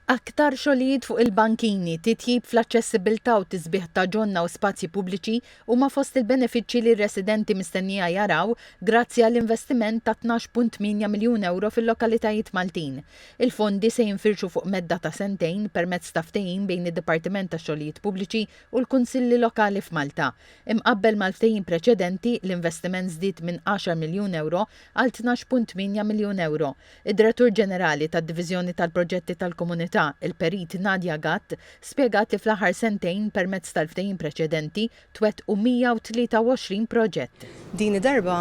Aktar xogħlijiet fuq il-bankini, titjib fl-aċċessibbiltà u tisbiħ ta' ġonna u spazji pubbliċi huma fost il-benefiċċji li r-residenti mistennija jaraw grazzi għall-investiment ta' tnax punt tmienja miljun ewro fil-lokalitajiet Maltin. Il-fondi se jinfirxu fuq medda ta' sentejn permezz ta' ftehim bejn id-Dipartiment tax-Xogħlijiet Pubbliċi u l-Kunsilli Lokali f'Malta. Imqabbel mal-ftehim preċedenti, l-investiment żdied minn għaxar miljun ewro għal tnax punt tmienja miljun ewro. Id-Direttur Ġenerali tad-Diviżjoni tal-Proġetti tal-Komunità, il-Perit Nadia Gatt, spjegat li fl-aħħar sentejn permezz tal-ftehim preċedenti twettqu 123 proġett. Din id-darba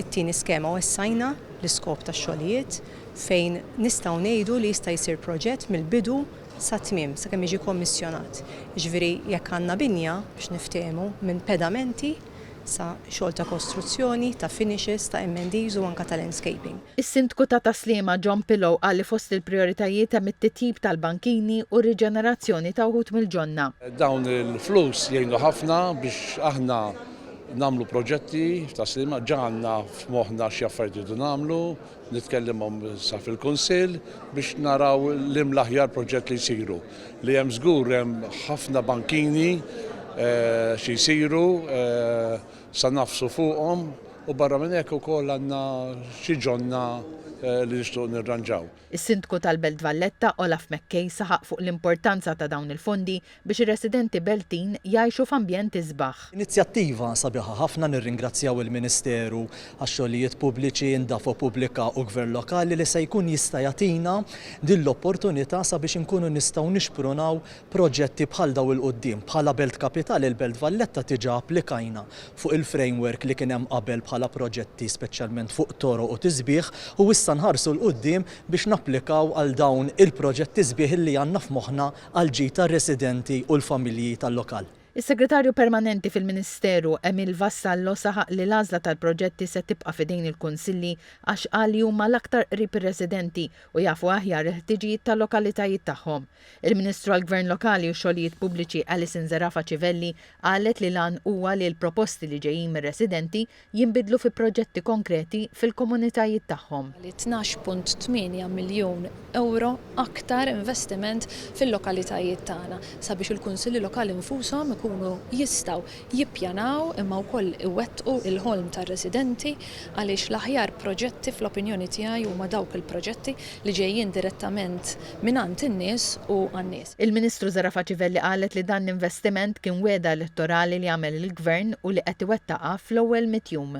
it-tieni skema wessajna l-iskop tax-xogħlijiet fejn nistgħu ngħidu li jista' jsir proġett mill-bidu sat-tmiem sakemm jiġi kommissjonat. Jiġifieri jekk għandna binja biex niftehmu minn pedamenti sa xogħol ta' kostruzzjoni, ta' finishes, ta' M&Es u anke ta' landscaping. Is-Sindku ta' Tas-Sliema John Pillow qal li fost il-prijoritajiet hemm it-titjib tal-bankini u r-riġenerazzjoni ta' wħud mill-ġonna. Dawn il-flus jgħinu ħafna biex aħna nagħmlu proġetti f'Tas-Sliema. Ġa għandna f'moħħna xi affarijiet irridu nagħmlu, nitkellimhom issa fil-Kunsill biex naraw liem l-aħjar proġett li jsiru. Li hemm żgur hemm ħafna bankini xi jsiru. Sa nagħfsu fuqhom u barra minn hekk ukoll għandna xi ġonna li nixtiequ nirranġaw. Is-Sindku tal-Belt Valletta, Olaf McKay saħaq fuq l-importanza ta' dawn il-fondi biex ir-residenti Beltin jgħixu f'ambjent isbaħ. Inizjattiva sabiħa ħafna nirringrazzjaw il-Ministeru għax-Xogħlijiet Pubbliċi, Indafo Pubblika u Gvern Lokali li se jkun jista' jagħtina din l-opportunità sabiex inkunu nistgħu nixprunaw proġetti bħal dawn 'il quddiem. Bħala Belt Kapitali, il-Belt Valletta diġà applikajna fuq il-framework li kien hemm qabel bħala proġetti speċjalment fuq toroq u tisbiħ u issa nħarsu 'l quddiem biex napplikaw għal dawn il-proġetti sbieħ illi għandna f'moħħna għall-ġid tar-residenti u l-familji tal-lokal. Is-Segretarju Permanenti fil-Ministeru, Emile Vassallo saħaq li l-għażla tal-proġetti se tibqa' f'idejn il-Kunsilli għax qal li huma l-aktar qrib ir-residenti u jafu aħjar il-ħtiġijiet tal-lokalitajiet tagħhom. Il-Ministru għall-Gvern Lokali u Xogħlijiet Pubbliċi Alison Zerafa Civelli qalet li l-għan huwa li l-proposti li ġejjin mir-residenti jinbidlu fi proġetti konkreti fil-komunitajiet tagħhom. Li tnax punt tmienja miljun ewro aktar investiment fil-lokalitajiet tagħna sabiex il-Kunsilli Lokali nfushom ikunu jistgħu jippjanaw imma wkoll iwettqu l-ħolm tar-residenti għaliex l-aħjar proġetti fl-opinjoni tiegħi huma dawk il-proġetti li ġejjin direttament mingħand in-nies u għan-nies. Il-Ministru Zara Facivelli qalet li dan l-investiment kien wegħda elettorali li għamel il-Gvern u li qed iwettaqha fl-ewwel mitt jum.